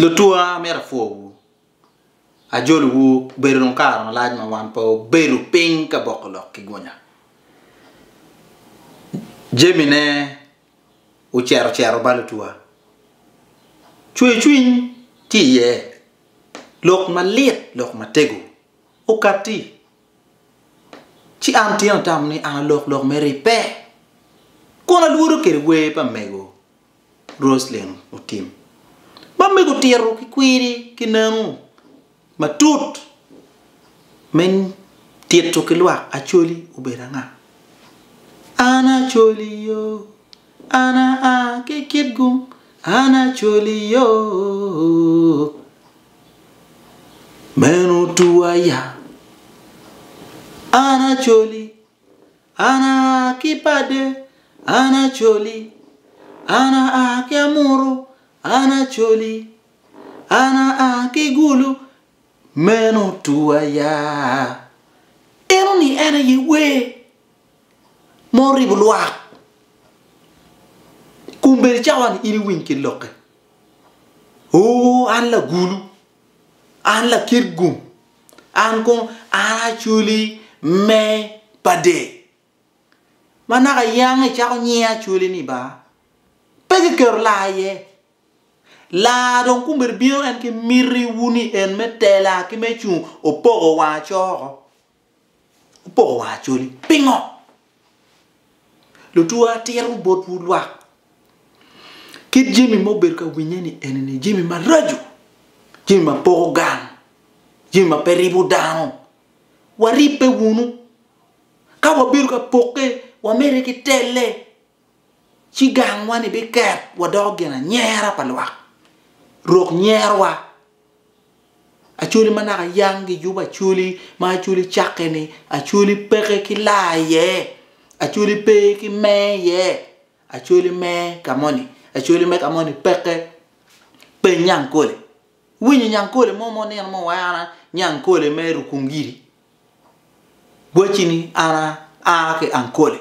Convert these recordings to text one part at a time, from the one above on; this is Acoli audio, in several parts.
Lutwa amyero apwowu, ajolowu bedo dong kare malac ma wan pe wabedo piny ka boko lok ki gunya. Jamine ocito cito ba lutwa, cwercwiny tye iye, lok malit lok matego okatti, ci an tyen atamo ni an alok lok me ribbe kun alwodo kwede wer pa mego Roselyn Otim. Ba mego tito ki kwiri ki nanu matut me tito ki lwak Acholi obedo anga? An Acholi yoo, an aa ki Kitgum, an Acholi yoo, meno tuwa ya, an Acholi. An aa ki Pade, an Acholi. An aa ki Amuru, an Acholi. An aa ki Gulu, meno Twaya. Eno ni en aye wer ma oribo lwak kun bene cawa ni in iwiny ki lokke. Oo an Lagulu, An lakit gum, an kong an acwali me pa dek. Ma naka iyange icako nyinga acwali ni ba, pe kiketo laa iye. Laa dong kombeddi bino en ki miti wu ni en me tela ki me cung opoko wang acoo oko. Opoko wa Acholi, pingo? Lutwo atito botwu lwak, kit jami ma obedo ka winye ni eni ni jami maraco, jami ma poko gang, jami ma pe ribo dano, waribbe wunu. Ka wabedo ka pokke, wamedde ki telle. ci gangwa-ni biket wadoko gin anyera pa lwak, rok nyerowa. Acholi ma naka yang gijubo acholi, ma acholi cakke-ni, acholi peke ki laa iye, acholi pe ki mee iye, acholi mee ka moni, acholi me ka moni peke. Peny Nyankole. Iwinyo Nyankole mo ma onino mo wa en Nyankole me Rukungiri? Gwacci ni, An aa ki Ankole.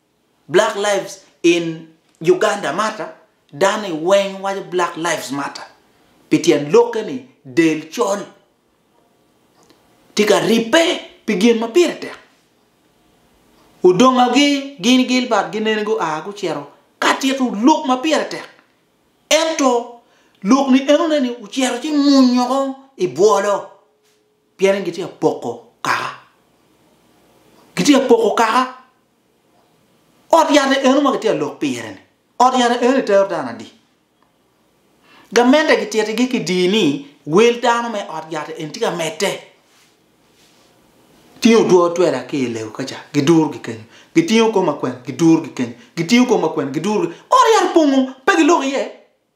Black lives in Uganda matter, dani weng waco black lives matter pi tyen lokke ni del col tye ka ribbe pi gin ma pire tek. Odongagi gin Gilbert gineni gua gucito ka tito lok ma pire tek, ento lok ni enone ni ocito ci munyo ko i bwolo. Pienni gitye ka poko kaka. Gitye ka poko kaka. Ot yat eno ma gitye ka lok pire-ni, ot yat eno itero dano adi? Gamente gititigi ki dii ni wel dano me ot yat eni tye ka medde. Tingo two otwela ki i lewu ka ca, gidurogi kenyo. Gitingo kwo makwena, gidurogi kenyo. Gitingo kwo makwena, gidurogi. Ot yat opong-o, pe giloko iye.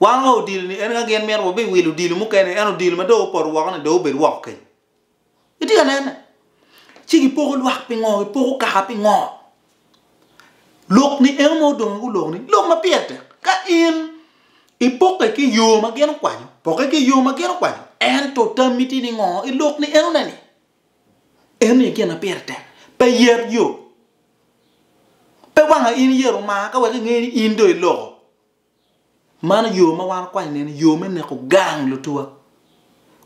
Wan wa odilo ni en ka gin mito wabi wilo odilo mukene ento odilo ma dong opoto woko ni dong obed woko kenyo. Itye ka nene? Ci gipoko lwak pingo? Gipoko kaka pingo? Lok ni eno ma odongo gulok ni lok ma pire tek. Ka in ipoke ki yo ma gin okwanyo, poke ki yo ma gin okwanyo. Ento tammi tye ni ngo? Ilok ni enone ni. Eni aye gin ma pire tek pe yet yo. Pe wanga in iyero mar ka wek inge ni in dong iloko. Mano yo ma wan okwany neni, yo me neko gang lutuwa.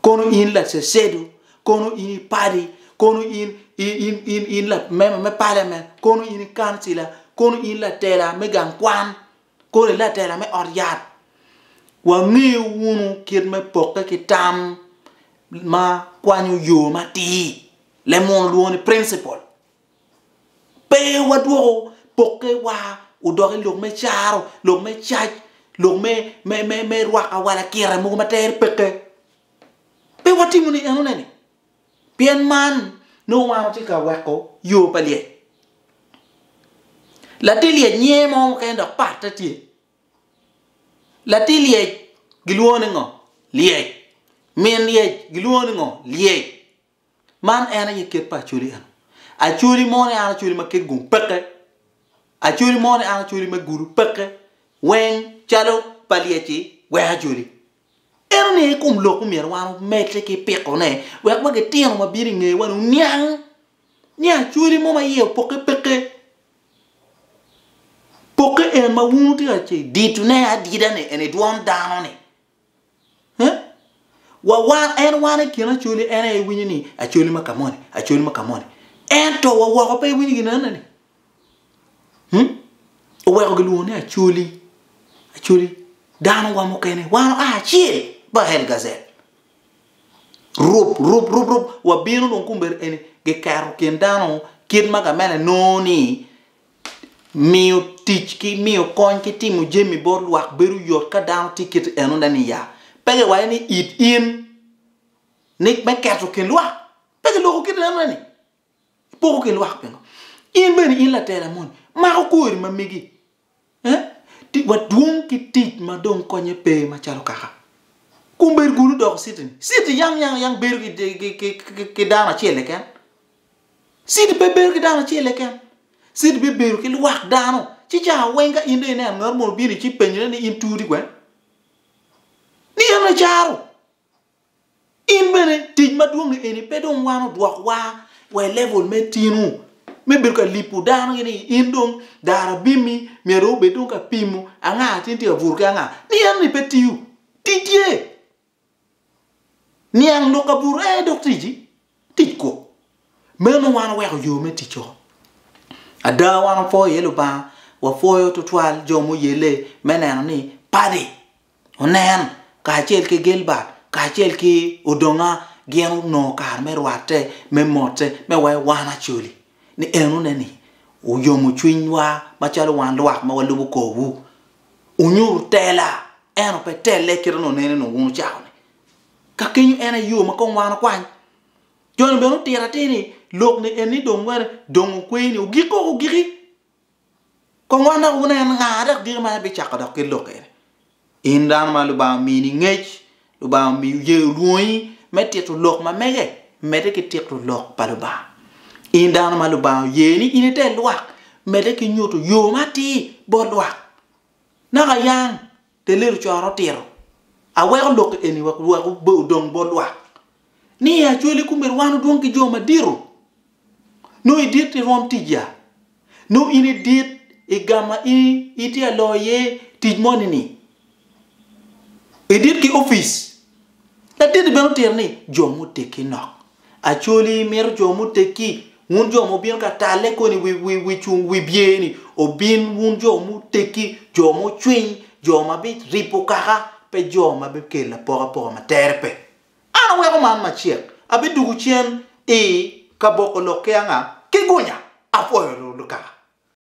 Kono in lacedo, kono in i padi, kono in, in, in, in, in lamema me paliamen, kono in i kancila, kono in latela me gang kwan, Kono i latela me ot yat, wangeyo wunu kit me pokke ki tam ma kwanyo yo matir, leb munu olwongo ni principle. Pe wadwoko pokke wa odok i lok me caro, lok me cac, lok me me me rwaka wa lakira mogo ma tere peke. Pe watimo ni enone ni Pien man nongo wan watye ka weko yo pa lyec. Latir lyec nyinge mo mukene dok patte tye. Latir lyec gilwongo ni ngo? Lyec. Min lyec gilwongo ni ngo? Lyec. Man en aye kit pa Acholi eno. Acholi mo ni an Acholi ma kit gung peke. Acholi mo ni an Acholi me gulu peke. Weng calo pa lyec-ci weko Acholi. Ento ni i kom lok omyero wan omedde ki pikone wek wa gitino ma bino i ngeyewani oniang ni acholi mo ma iye opokke peke. Pokke en ma wun wutye ka ce ditone adida ni eni dwon dano ni. Eh? Wa wan en wan i kin acholi en aye iwinyo ni acholi ma kamoni, acholi ma kamoni. Ento wa woko pe iwinyo ginene ni. Oweko gilwongo ni Acholi, Acholi, dano wa mukene, wan oa acel, ba hell gazel. Rub, rub, rub, rub, wabino dong kumber eni, giketo kin dano kit ma gamene nongo ni miyo tic ki miyo kony ki timo jami bot lwak bedo yot ka dano tye kit eno ne ni ya. Pe giwaco ni it in, ni me keto kin lwak, pe giloko kit eno ne ni. Poko ki lwak pingo? In bene in latela moni mako kwori ma megi eh ti wa dwong ki tic ma dong konye pe ma calo kaka kun bedo kunu doko city ni city yang yang yang bedo ki ki ki ki ki dano acel keken city pe bedo ki dano acel keken city be bedo ki lwak dano ci ca weng ka in dong ineno ngat mo obini ci penyone ni in turi kwene ni en aye caro In bene tic madwongi eni pe dong wan odwok wa wa i level me tinu me bedo ka lipo dano gini in dong dara bimi myero dong obed ka pimo anga tin tye ka buto ki anga ni eno ni pe tiyo. Ticce niang lok kabuto en aye dok ticci Tic kok. Meno wan oweko yo me tic oko. Ada, wan wapwoyo iye Lubanga, wapwoyo tutwal jo muyelle me neno ni Paddy onen kacel ki Gilbert kacel ki Odonga gin onongo kare me rwatte, me motte, me wayo wan Acholi ni enone-ni oyomo cwinywa macalo wan lwak ma walubo korwu. Wunyuto tela, ento pe telle kit ma nongo ineno wun ocako-ni. Ka kenyo en aye yo ma kong wan okwany. Joni bene otito atir ni lok-ni eni dong wene dong okwe ni ogik koko ogiki. Kong wan dok wunen nga dok diki ma ebicako dok ki lok eni. In dano ma Lubanga omini ngec, Lubanga omiyo ye olwongi me tito lok ma mege, medde ki tito lok pa Lubanga. In dano ma Lubanga oye ni in ite lwak, medde ki nyuto yo ma atir bot lwak. Naka yang! Pe lelo coro otito. Aweko lok eni wa wek odong bot lwak, ni i acwali kumeno wan odwong ki jo madito. Nongo i dit irwom tic ya? Nongo in i dit igama in itye ka loyo iye tic mo ni ni? I dit ki opic? Laditi bene otito ni, Jo muteggi nok Actually imito jo muteggi, wun jo ma wubino ka talle koni wi cung wi byer ni obin wun jo muteggi, jo mucwiny, jo ma bi ripo kaka pe jo ma bi kelo apokapoka ma tere pe. An aweko man macek, abidugu cen i ka boko lok ki anga ki gunya, apwoyo lukaka.